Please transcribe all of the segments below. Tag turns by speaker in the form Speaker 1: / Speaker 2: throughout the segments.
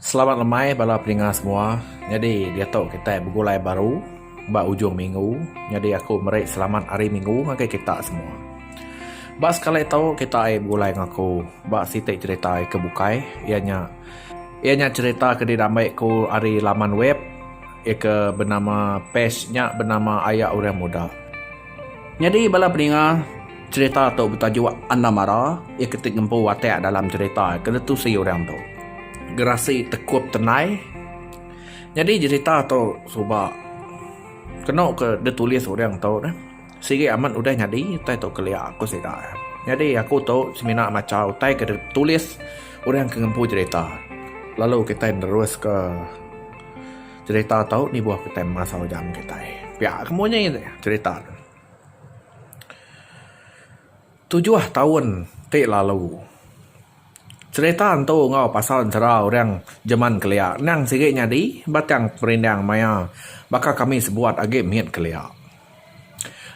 Speaker 1: Selamat lemai bala peninga semua. Nyadi diatu kitai begulai baru ba ujung minggu. Nyadi aku meri selamat hari minggu ngagai kita semua. Ba sekali tu kita ai begulai enggau aku ba siti cherita ke bukai iya nya iya nya cherita ke diambai ku ari laman web iya ke benama page nya benama Aya Orang Muda. Nyadi bala peninga. Cherita tu betajuk Anda Mara iya ke ti ngempu watak dalam cherita ke ditusi orang tu Gerasi Tekup Tenai. Nyadi cherita tu suba kenu ke ditulis orang tu neh sigi amat udah nyadi utai tu kelia ku sida. Nyadi aku tu semina macha utai ke ditulis orang ke ngempu cherita lalu kitai neruska cherita tu nibuh kitai masa ujang kitai. Pia ke munyi cherita tu. Tujuh taun ti lalu cerita entu enggau pasal ensera orang jeman kelia endang sigi nyadi batang perindang maya baka kami sebuat agi mit kelia.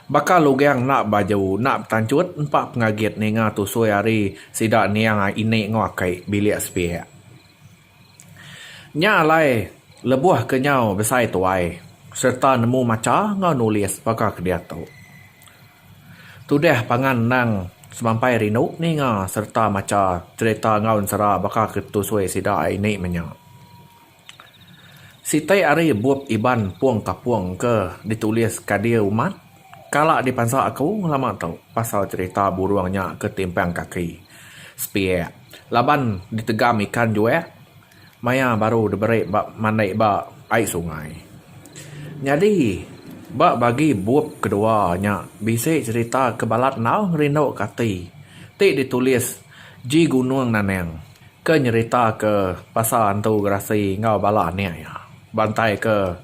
Speaker 1: Baka lugang enda baju enda betanchut empa pengagit ninga tusui ari sida niang ini enggau aki bilik sepiak. Nya alai, lebuh ke nyau besai tuai sereta nemu macha enggau nulis baka ke diatu, tudah pangan endang semampai rindu ninga sereta macha cherita enggau ensera baka ke tusui sida ari indi menya. Siti ari bup Iban Pung Kapung ke ditulis Kadir Umat kala dipansa aku lama tu pasal cherita burung nya ke timpang kaki, sepiak. Laban ditegam ikan juek maya baru diberi ba mandi ba ai sungai. Nyadi ba bagi bup kedua nya bisi cherita ke balat enggau ngerinduka ati ti ditulis G. Gunung Naneng ke nyeritaka pasal Antu Gerasi enggau bala anak iya. Bantai ke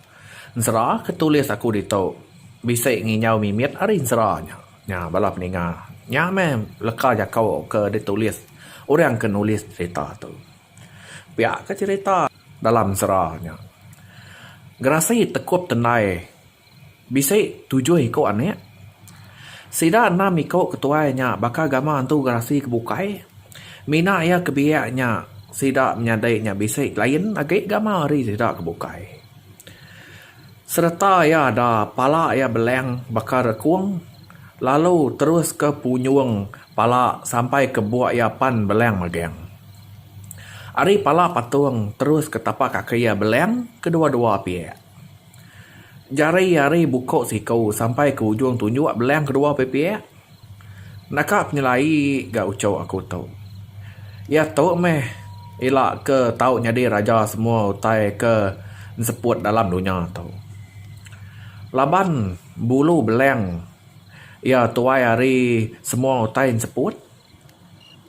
Speaker 1: ensera ke tulis aku ditu bisi nginjau mimit ari ensera nya. Nya bala peninga nya meh leka jaku ke ditulis orang ke nulis cerita tu. Pia ke cerita dalam sera nya. Gerasi tekup tendai bisi tujuh iku anak. Sida enam iku ke tuai nya baka gama entu Gerasi ke bukai. Mina iya ke biak nya sida menyadi nya bisi lain agi gama ari sida ke bukai. Sereta iya da pala iya beleng baka rekung, lalu terus ke punyung pala sampai ke buk iya pan beleng mageng. Ari pala patung terus ke tapak kaki iya beleng ke dua-dua piak. Jari ari buku siku sampai ke ujung tunjuk beleng ke dua piak-piak. Naka penyelai ga uchu aku tu. Iya tu meh ila ke tau nyadi raja semua utai ke enseput dalam dunya tu. Laban bulu beleng iya tuai ari semua utai enseput.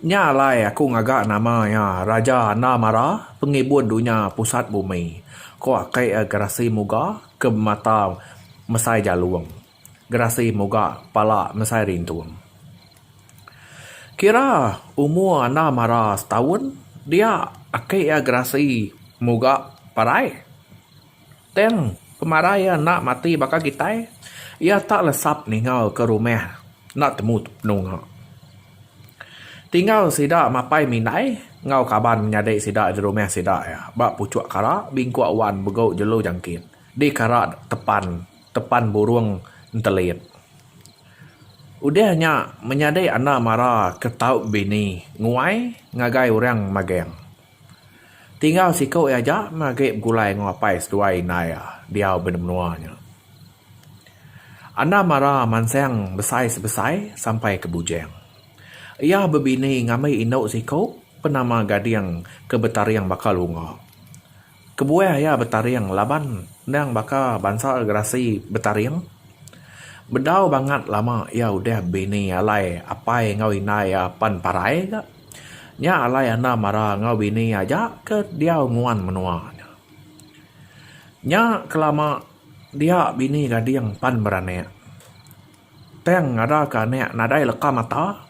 Speaker 1: Nya alai aku ngaga nama iya Raja Anda Mara Pengibun Dunya Pusat Bumi, ku Aki Gerasi Muga ke bemata Mesai Jalong. gerasi muga pala mesai rintung. Kira umur anda mara setaun dia aki iya gerasi muga parai. Tang pemarai iya enda mati baka kitai, iya tak lesap ninggal ke rumah enda temu penunga. Tinggal sida mapai mindai enggau kaban nyadi sida di rumah sida iya ba puchuk kara bingkuk wan begau jelu jangkit di kara tepan tepan burung entelit. Udah nya menyadi anda mara ke tau bini nguai ngagai orang magang. Tinggal siku iya aja meh agi begulai enggau apai seduai indai iya diau ba menua nya. Anda mara mansang besai sebesai sampai ke bujang. Iya bebini ngambi indu siku penama Gading ke betaring baka lunga. Kebuah iya betaring laban endang baka bansa gerasi betaring. Bedau bangat lama iya udah bini alai apai enggau indai iya pan parai ga. Nya alai anda mara enggau bini aja ke diau nguan menua nya. Nya kelama dia bini gading pan beranak. Tang ada ke anak nadai leka mata.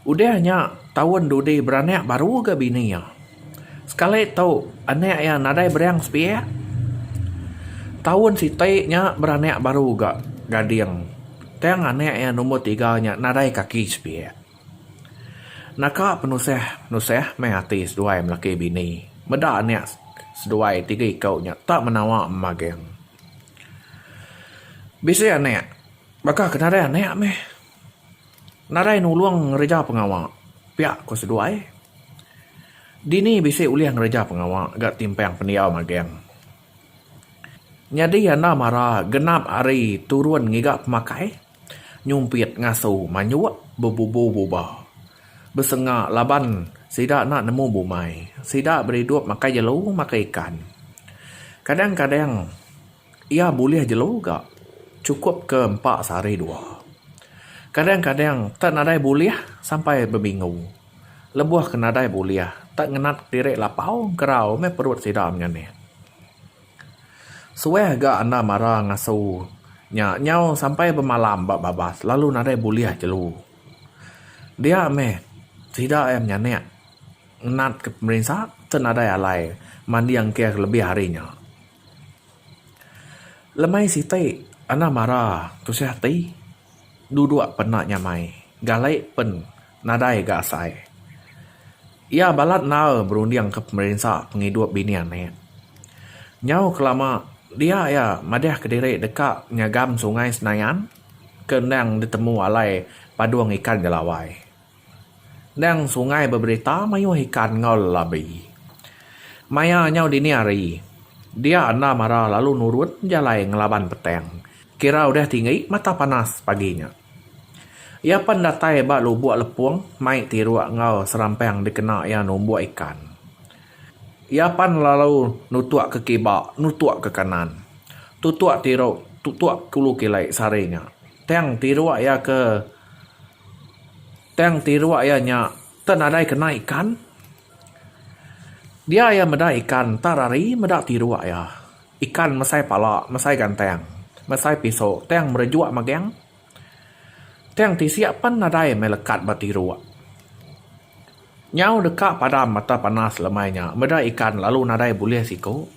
Speaker 1: Udah nya taun dudi beranak baru ga bini iya. Sekali tu anak iya nadai berang sepiak. Taun siti nya beranak baru ga Gading. Tang anak iya nombor tiga nya nadai kaki sepiak. Naka penusah nusah meh ati seduai melaki bini. Meda anak seduai tiga iku nya tak menawa mageng. Bisi anek, baka ke nadai anek meh. Nadai nulung ngereja pengawa pia ku seduai. Dini bisi ulih ngereja pengawa ga timpang pendiau magang. Nyadi anda mara genap hari turun ngiga pemakai. nyumpit ngasu manyuk bebubu buba besenga laban sida enda nemu bumai sida beridup makai jelu makai ikan kadang-kadang iya bulih jelu ga chukup ke empa sehari dua kadang-kadang tak nadai bulih sampai beminggu lebuh ke nadai bulih tak ngenat diri lapau gerau meh perut sida menyanih. Suah ga enda mara ngasu nya nyau sampai bemalam ba babas lalu nadai bulih jelu. Dia meh sida iya menyanek ngenat ke pemerinsa ke nadai alai manding ke lebih ari nya. Lemai siti enda mara tusah ati. duduk pena nyamai galai pen nadai ga asai. Iya balat endar berunding ke pemerinsa pengidup bini anak. Nyau kelama dia iya madih ke diri deka nyagam sungai Senayan ke endang ditemu alai padung ikan Jelawai. Endang sungai beberita mayuh ikan enggau lelabi. Maya nyau dini hari, dia enda mara lalu nurun jalai ngelaban petang kira udah tinggi mata panas pagi nya. Iya pen datai ba lubok lepong mai tiruk enggau serampang dikena iya numbuk ikan. Iya pen lalu nutuk ke kiba, nutuk ke kanan, tutuk tiruk, tutuk kulu kili sehari nya. Tang tiruk iya ke. Tang ti iruk iya nya enda nadai kena ikan. Dia iya meda ikan entar ari meda ti iruk iya. Ikan mesai pala, mesai gantang, mesai pisu tang merejuk magang. Tang ti sia pen nadai meh lekat ba ti iruk. Nyau deka padam mata panas lemai nya meda ikan lalu nadai bulih siku.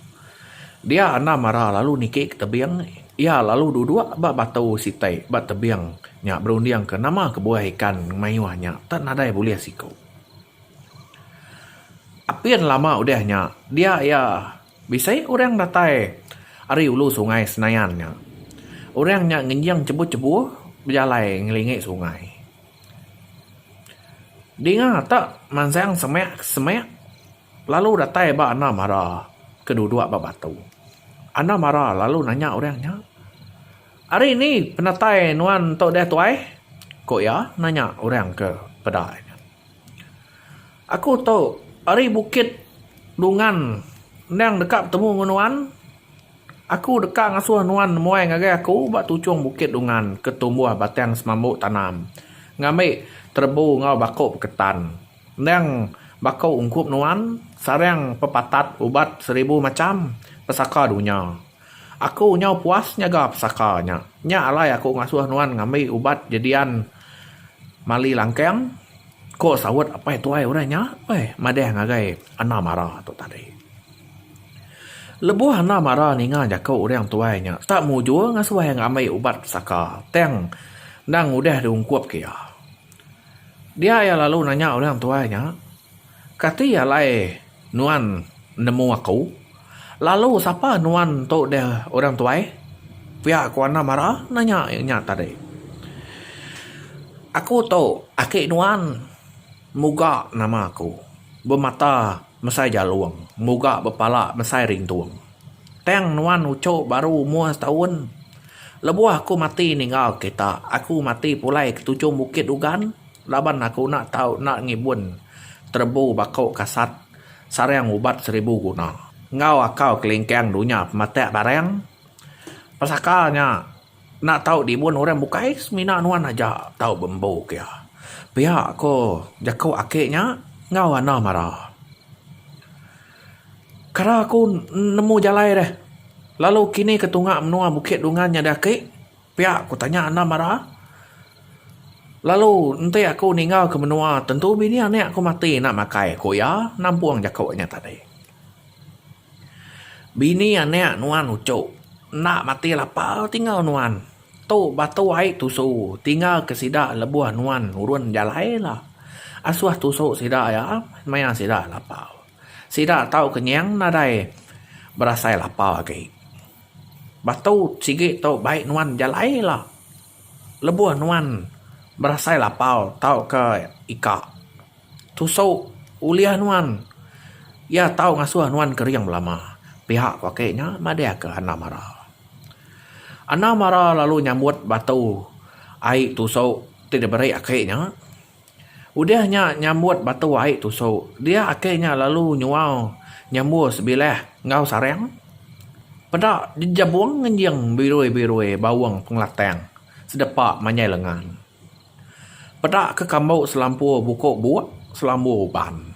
Speaker 1: Dia enda mara lalu niki ke tebing, iya lalu duduk ba batu siti ba tebing nya berundingka nama kebuah ikan mayuh nya tak nadai bulih siku. Apin lama udah nya dia iya bisi orang datai ari ulu sungai Senayan nya. Orang nya ngenjing chebuh-chebuh bejalai ngelingi sungai. Dinga ta mansang semak semak lalu datai ba anda mara ke dudok ba batu. Anda mara lalu nanya orang nya, Ari ni penatai nuan tu deh tuai? ku iya nanya orang ke peda nya. Aku tu ari bukit dungan endang deka betemu ngen nuan. Aku deka ngasuh nuan nemuai ngagai Aku ba tuchung bukit Dungan ke tumbuh batang semambu tanam, ngambi terebu enggau baku peketan. Endang baku ungkup nuan sarang pepatat ubat seribu macham pesaka dunya. Aku nyau puas nyaga pesaka nya. Nya alai Aku ngasuh nuan ngambi ubat jedian mali langkang, ko saut apai tuai orang nya, madah ngagai Ana Mara tu tadi. Lebuh anda mara ninga jaku orang tuai nya tak mujur ngasuh iya ngambi ubat pesaka tang endang udah diungkup ke iya. Dia iya lalu nanya orang tuai nya kati alai nuan nemu aku lalu sapa nuan tu deh orang tuai pia ku anda mara nanya inya tadi. Aku tu aki nuan muga nama aku bemata. Mesai jalung, nguga bepala mesai rintung. Tang nuan uchu baru umur setaun. Lebuh aku mati ninggal kita, aku mati pulai ke tujung bukit ugan laban aku enda tau enda ngibun terebu baku kasat sarang ubat seribu guna. Enggau akau kelingkang dunya pematak barang pesaka nya. Enda tau dibun orang bukai semina nuan aja tau bembu ke iya. Pia ko jaku ake nya enggau anang mara. Kara aku nemu jalai deh lalu kini ke tunga menua bukit dungan nyadi ake pia ku tanya anang mara lalu enti aku ninggal ke menua tentu bini anak ku mati enda makai ku iya nampung jaku nya tadi. Bini anek nuan uchu. Enda mati lapa tinggal nuan. Tu batu ai tusu tinggal ke sida lebuh nuan nurun jalai la. Asuh tusu sida ia maya sida lapa. Sida tau kenyang nadai berasai lapa agi. Batu sigi tu bai nuan jalai la. Lebuh nuan berasai lapa tauka ika. Tusu ulih nuan. Iya tau ngasuh nuan kering belama. Pihak ku ake nya madahka Anna Mara. Anna Mara lalu nyambut batu ai tusu ti diberi ake nya. Udah nya nyambut batu ai tusu, dia ake nya lalu nyual nyambur sebilah enggau sarang. Peda jejebung ngenjing birui-birui baung pengelatang sedepa manyai lengan. Peda ke kambu selampur buku buk selambur uban.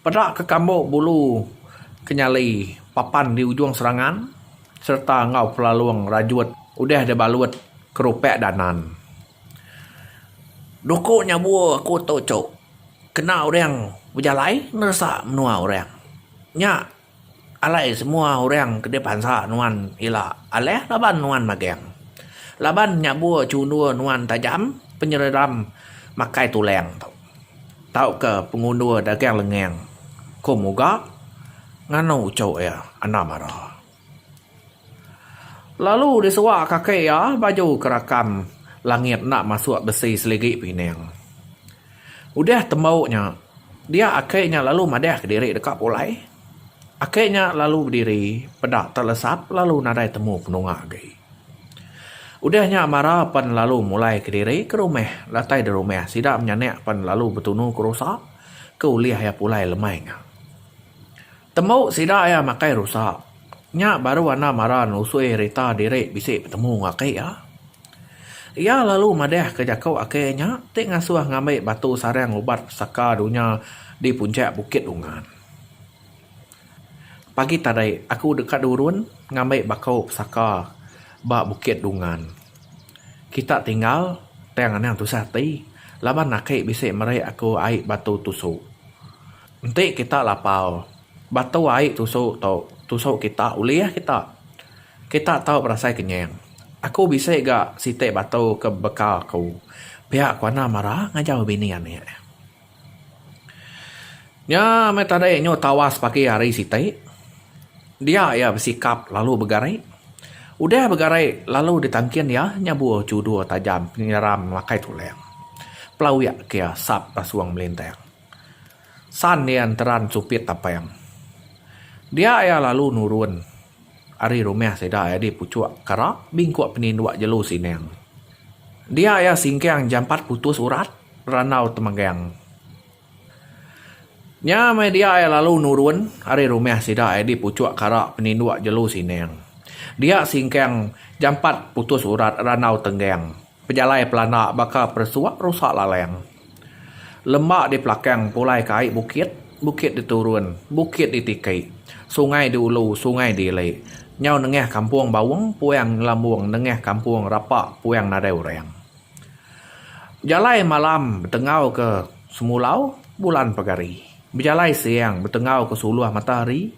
Speaker 1: Peda ke kambu bulu ke nyali papan di ujung serangan sereta enggau pelalung rajut udah dibalut ke rupek danan. Doku nyabur aku tu cuk kena orang bejalai neresa menua orang nya Alai semua orang ke di bansa nuan ila alah laban nuan magang. Laban nya bua chundu nuan tajam penyeredam makai tulang tu tauka pengundur dagang lengang, ku Muga nganu uchu iya enda mara. Lalu disua kaki iya baju ke rakam langit enda masuk besi seligi pinang. Udah tembau nya, dia aki nya lalu madahka diri deka pulai. Aki nya lalu bediri peda telesap lalu nadai temu penunga agi. Udah nya Mara pen lalu mulaika diri ke rumah. Datai di rumah, sida menyanak pen lalu betunu ke rusa ke ulih iya pulai lemai nya. Tembu sida iya makai rusa. Nya baru anda mara nusui rita diri bisi betemu enggau aki iya. Iya lalu madahka jaku aki iya nya ti ngasuh ngambi batu sarang ubat pesaka dunya di punchak Bukit Dungan. Pagi tadi aku deka nurun ngambi baku pesaka ba Bukit Dungan. Kita tinggal tang anang tusah ati laban aki bisi meri aku ai batu tusu. Enti kita lapau, batu ai tusu tu tusu kita ulih kita. Kita tau berasai kenyang. Aku bisi ga siti batu ke bekal aku. Pia ku Anang mara ngajau bini anak. Nya meh tadi nyu tawas pagi hari siti. Dia iya besikap lalu begari. Udah begari lalu ditangkin iya nyabur chudur tajam penyeram makai tulang. Pelawik kia sap pasung melintang. San iya enteran Supit Tapang. Dia iya lalu nurun ari rumah sida nyadi puchuk kara bingkuk peninduk jelu Sinang. Dia iya singkang jampat putus urat randau temegang. Nya meh dia iya lalu nurun ari rumah sida nyadi puchuk kara peninduk jelu Sinang. Dia singkang jampat putus urat randau tenggang. Pejalai pelanda baka peresuk rusak lalang. Lema di pelakang pulai ke ai bukit, bukit di turun, bukit di tiki, sungai di ulu, sungai di ili. Nyau nengah kampung Baung puang ngelambung nengah kampung Rapa puang nadai orang. Bejalai malam betengau ke semulau bulan pegari. Bejalai siang betengau ke suluh matahari.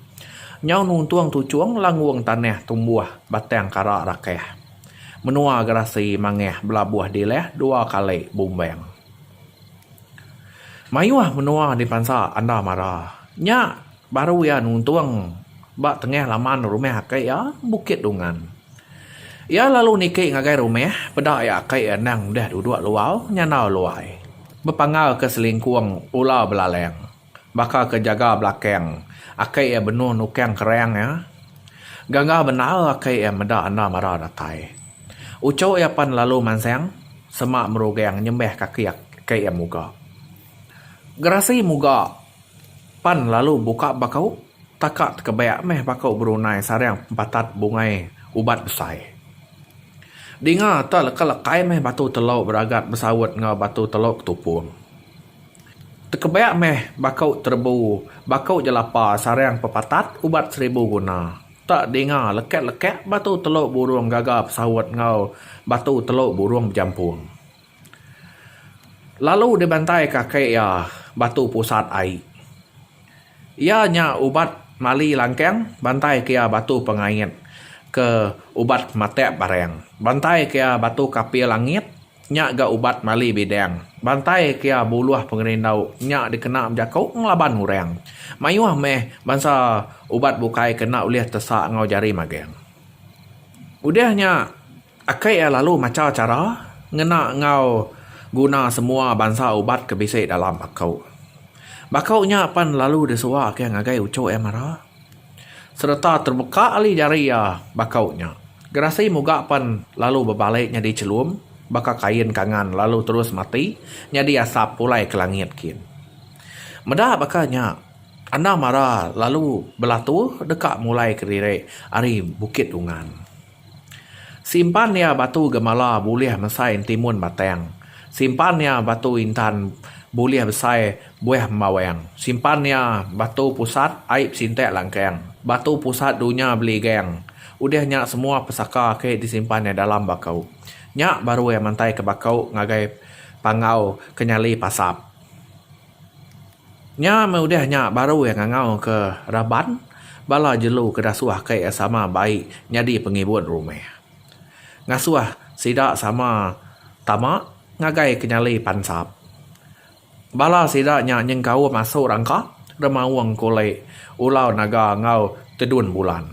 Speaker 1: Nyau nuntung tuchung langgung tanah tumbuh batang kara rakah. Menua gerasi mangah belabuh dilah dua kali bumbang. Mayuh menua dipansa anda mara. Nya baru iya nuntung ba tengah laman rumah aki iya, Bukit Dungan. Iya lalu niki ngagai rumah peda iya aki iya endang deh duduk luar, nyandau luai. Bepanggalka selingkung ular belalang. Baka ke jaga belakang aki iya benung nukang kerang iya. Gaga bendar aki iya meda enda mara datai. Uchu iya pan lalu mansang semak merugang nyembah kaki aki iya muga. Gerasi muga pan lalu buka baku taka tekebak meh baku berunai sarang pempatat bungai ubat besai. Dinga te leka-lekai meh batu telu beragat besaut enggau batu telu ketupung. Tekebek meh baku terebu, baku jelapa sarang pepatat ubat seribu guna. Tak dinga lekek-lekek batu telu burung gaga pesaut enggau batu telu burung bejampung. Lalu dibantaika ake iya batu pusat ai. Iya nya ubat mali langkang bantai ke iya batu pengait ke ubat matek barang. Bantai ke iya batu kapil langit Nya ga ubat mali bidang. Bantai kia buluh pengerindau nya dikena bejako ngelaban urang. Mayuh meh bansa ubat bukai ke enda ulih tesa enggau jari magang. Udah nya aki iya lalu macha chara ngena enggau guna semua bansa ubat ke bisi dalam bako. Bako nya pan lalu disuaka ngagai uchu iya mara. Sereta terbeka ali jari iya bakau nya. Gerasi muga pen lalu bebali nyadi chelum baka kain kangan lalu terus mati nyadi asap pulai ke langit kin. Meda baka nya, Anang Mara lalu belatu deka mulai kediri ari Bukit Dungan. Simpan iya batu gemala bulih mesai enti mun batang. Simpan iya batu intan bulih besai buah embawang. Simpan iya batu pusat ai besintak langkang. Batu pusat dunya beligang. Udah nya semua pesaka ake disimpan iya dalam bakau. Nya baru iya mantai ke bakau ngagai panggau ke nyali pasap. Nya meh udah nya baru iya ngangau ke raban bala jelu ke dasuh aka iya sama bai nyadi pengibun rumah. Ngasuh sida sama tama ngagai ke nyali pansap. Bala sida nya nyengkaum asu rangka, remaung kulit, ulau naga enggau tedun bulan.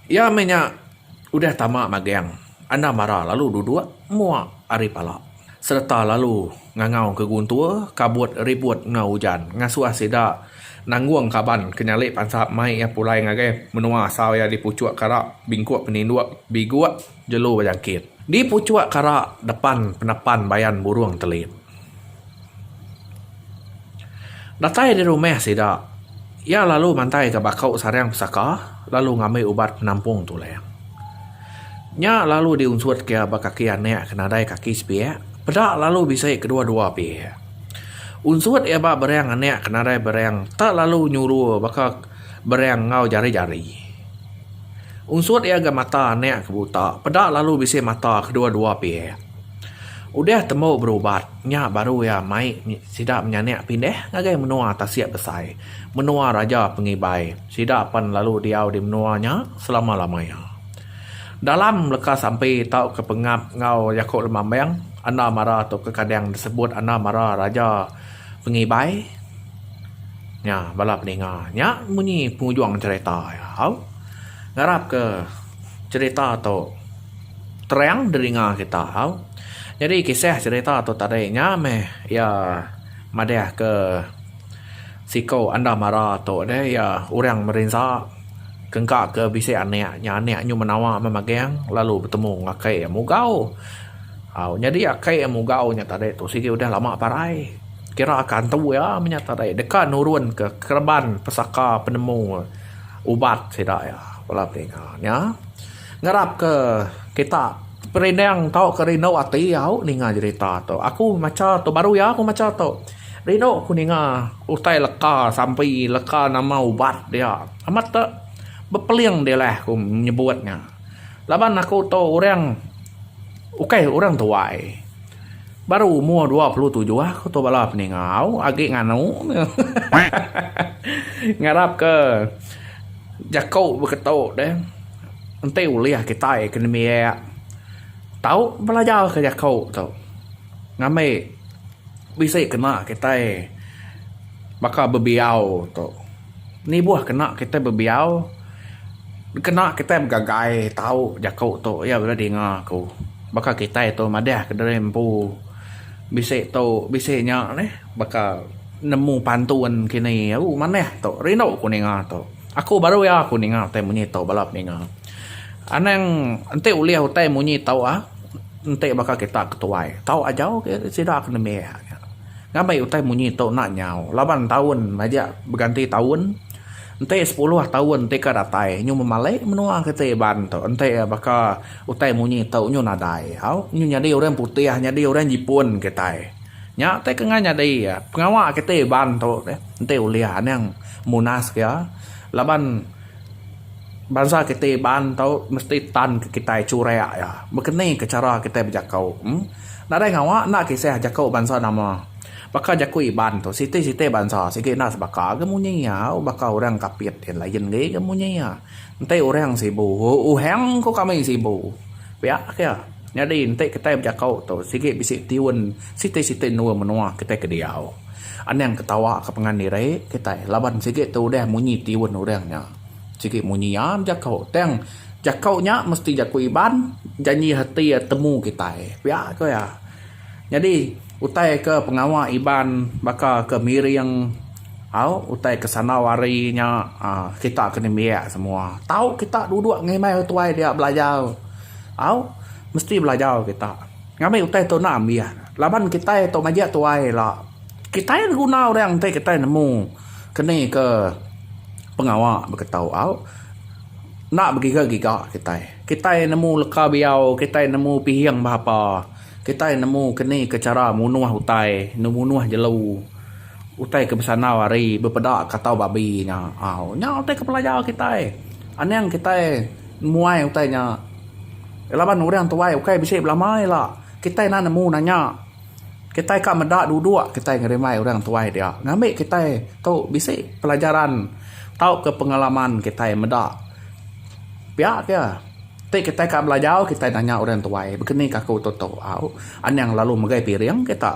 Speaker 1: Iya meh nya udah tama magang anda mara lalu duduk mua ari pala sereta lalu ngangau ke guntur kabut ribut enggau ujan ngasuh sida nanggung kaban ke nyali pansap mai iya pulai ngagai menua asal iya dipuchuk kara bingkuk peninduk biguk. Jelu bejangkit. Di puchuk kara depan penepan bayan burung telit. Datai di rumah sida, iya lalu mantaika baku sarang pesaka lalu ngambi ubat penampung tulang. Nya lalu diunsutka iya ba kaki anak ke nadai kaki sepiak, peda lalu bisi kedua-dua piak. Unsut iya ba berang anak ke nadai berang tak lalu nyuru baka. Bereng enggau jari-jari. Unsut iya ga mata anak ke buta, peda lalu bisi mata kedua-dua pihak. Udah tembu berubat, nya baru iya mai sida menyanak pindah ngagai menua tasik besai, menua Raja Pengibai. Sida pan lalu diau di menua nya selama-lama iya. Dalam leka sampi tauka pengap enggau jaku Lemambang, enda mara tu ke kadang disebut enda mara Raja Pengibai. Nya bala peninga nya munyi pengujung cerita iya au. Ngarap ke cerita tu terang diringa kita au. Nyadi kisah cerita tu tadi nya meh iya madah ke siko enda mara tu deh iya orang merinsa kengka ke bisi anak nya anak nyu menawa meh magang lalu betemu enggau akai iya mugau. Au nyadi akai iya mugau nya tadi tu sigi udah lama parai. Kira ka antu iya menya tadi deka nurun ke kereban pesaka penemu ubat sida iya bala telinga nya ngarap ke kita perinding tauka rindu ati au ninga jerita tu aku macha tu baru iya aku macha tu rindu ku ninga utai leka sampi leka nama ubat dia amat da bepeling dilah aku nyebut nya laban aku tu orang ukai orang tuai. Baru umur dua puluh tujuh aku tu bala peningau agi nganu ngarap ke jaku beketu deh enti ulih kitai ke nembiak tau belajar ke jaku tu ngambi bisi kena kitai baka bebiau tu. Nibuh kena kitai bebiau, kena kitai begagai tau jaku tu iya udah dinga aku. Baka kitai tu madahka diri empu bisi tu bisi nya neh baka nemu pantun kini ooh manah tu rindu aku ninga tu. Aku baru iya aku ninga utai munyi tu bala peninga. Anang enti ulih utai munyi tu ah enti baka kita ketuai tau ajau sida ke nembiak nya. Ngambi utai munyi tu enda nyau laban taun majak beganti taun enti sepuluh taun ti ka datai nyu memalik menua kiti iban tu enti baka utai munyi tu nyu nadai au nyu nyadi orang putih nyadi orang jipun kitai nya ti kena nyadi pengawa kiti iban tu enti ulih anang munas ga laban bansa kiti iban tu mesti tan kitai churak iya bekeni ke chara kitai bejakau. Nadai ngawa enda kisah jaku bansa nama. Baka jaku Iban tu, siti-siti bansa sigi enda sebaka ga munyi iya, u baka orang Kapit ti lain agi ga munyi iya. Enti orang Sibu, uhang ku kami Sibu. Pia ka iya. Nyadi enti kitai bejaku tu sigi bisi tiun siti-siti endur menua kitai ke diau. Anang ketawa ka pengan diri kitai laban sigi tu udah munyi tiun orang nya. Sigi munyi iya bejaku tang. Jaku nya mesti jaku Iban, janji hati iya temu kitai. Pia ku iya. Nyadi, utai ke pengawa Iban baka ke miring au utai ke sandau hari nya uhh kita ke nembiak semua. Tau kita duduk ngimbai orang tuai dia belajar au mesti belajar kita. Ngambi utai tu enda ambian. Laban kitai tu majak tuai ila. Kitai enda guna orang enti kitai nemu ke ni ke pengawa baka tu au. Enda begiga-giga kitai. Kitai nemu leka biau, kitai nemu pihing bahapa, kitai nemu keni ke chara munuh utai, numunuh jelu, utai ke besandau ari bepeda ka tau babi nya. Au, nya utai ke pelajar kitai. Anang kitai muai utai nya laban orang tuai ukai bisi belama ila, kitai enda nemu nanya. kitai ka meda duduk kitai ngerimbai orang tuai dia ngambi kitai tu bisi pelajaran tauka pengalaman kitai meda pia ke ti kitai ka belajau kitai nanya orang tuai bekenika aku tutu au anang lalu megai piring kita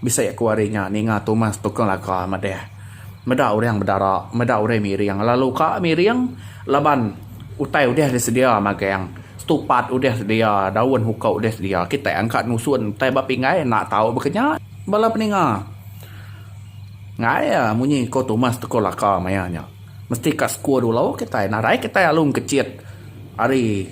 Speaker 1: bisi aku hari nya ninga tumas tukang laga madeh meda orang bedara meda orang miring lalu ka miring laban utai udah disedia magang. Stupat udah sedia, daun huka udah sedia, kitai angka nusun utai ba pinggai enda tau bekenya bala peninga. Enggai munyi ko tumas toko laka maya nya mesti ka sku dulu kitai nadai kitai alu engkechit ari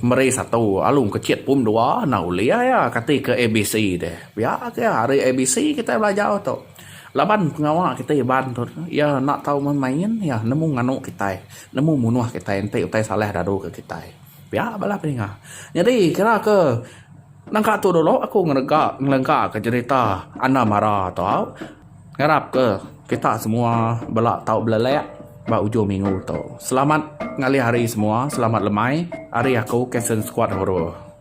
Speaker 1: meri satu alu engkechit pum dua enda ulih iya kati ke ABC deh. Pia agi ari ABC kitai belajar tu. Laban pengawa kitai Iban tu iya enda tau main main iya nemu nganu kitai nemu munuh kitai enti utai salah dadu ke kitai pia bala pedinga nyadi kira ke nangka tu dulu aku ngelega ngelega ke jerita anda mara tu ngarap ke kita semua bela tau belelek ba ujung minggu tu selamat ngalih hari semua selamat lemai ari aku captain squad horo.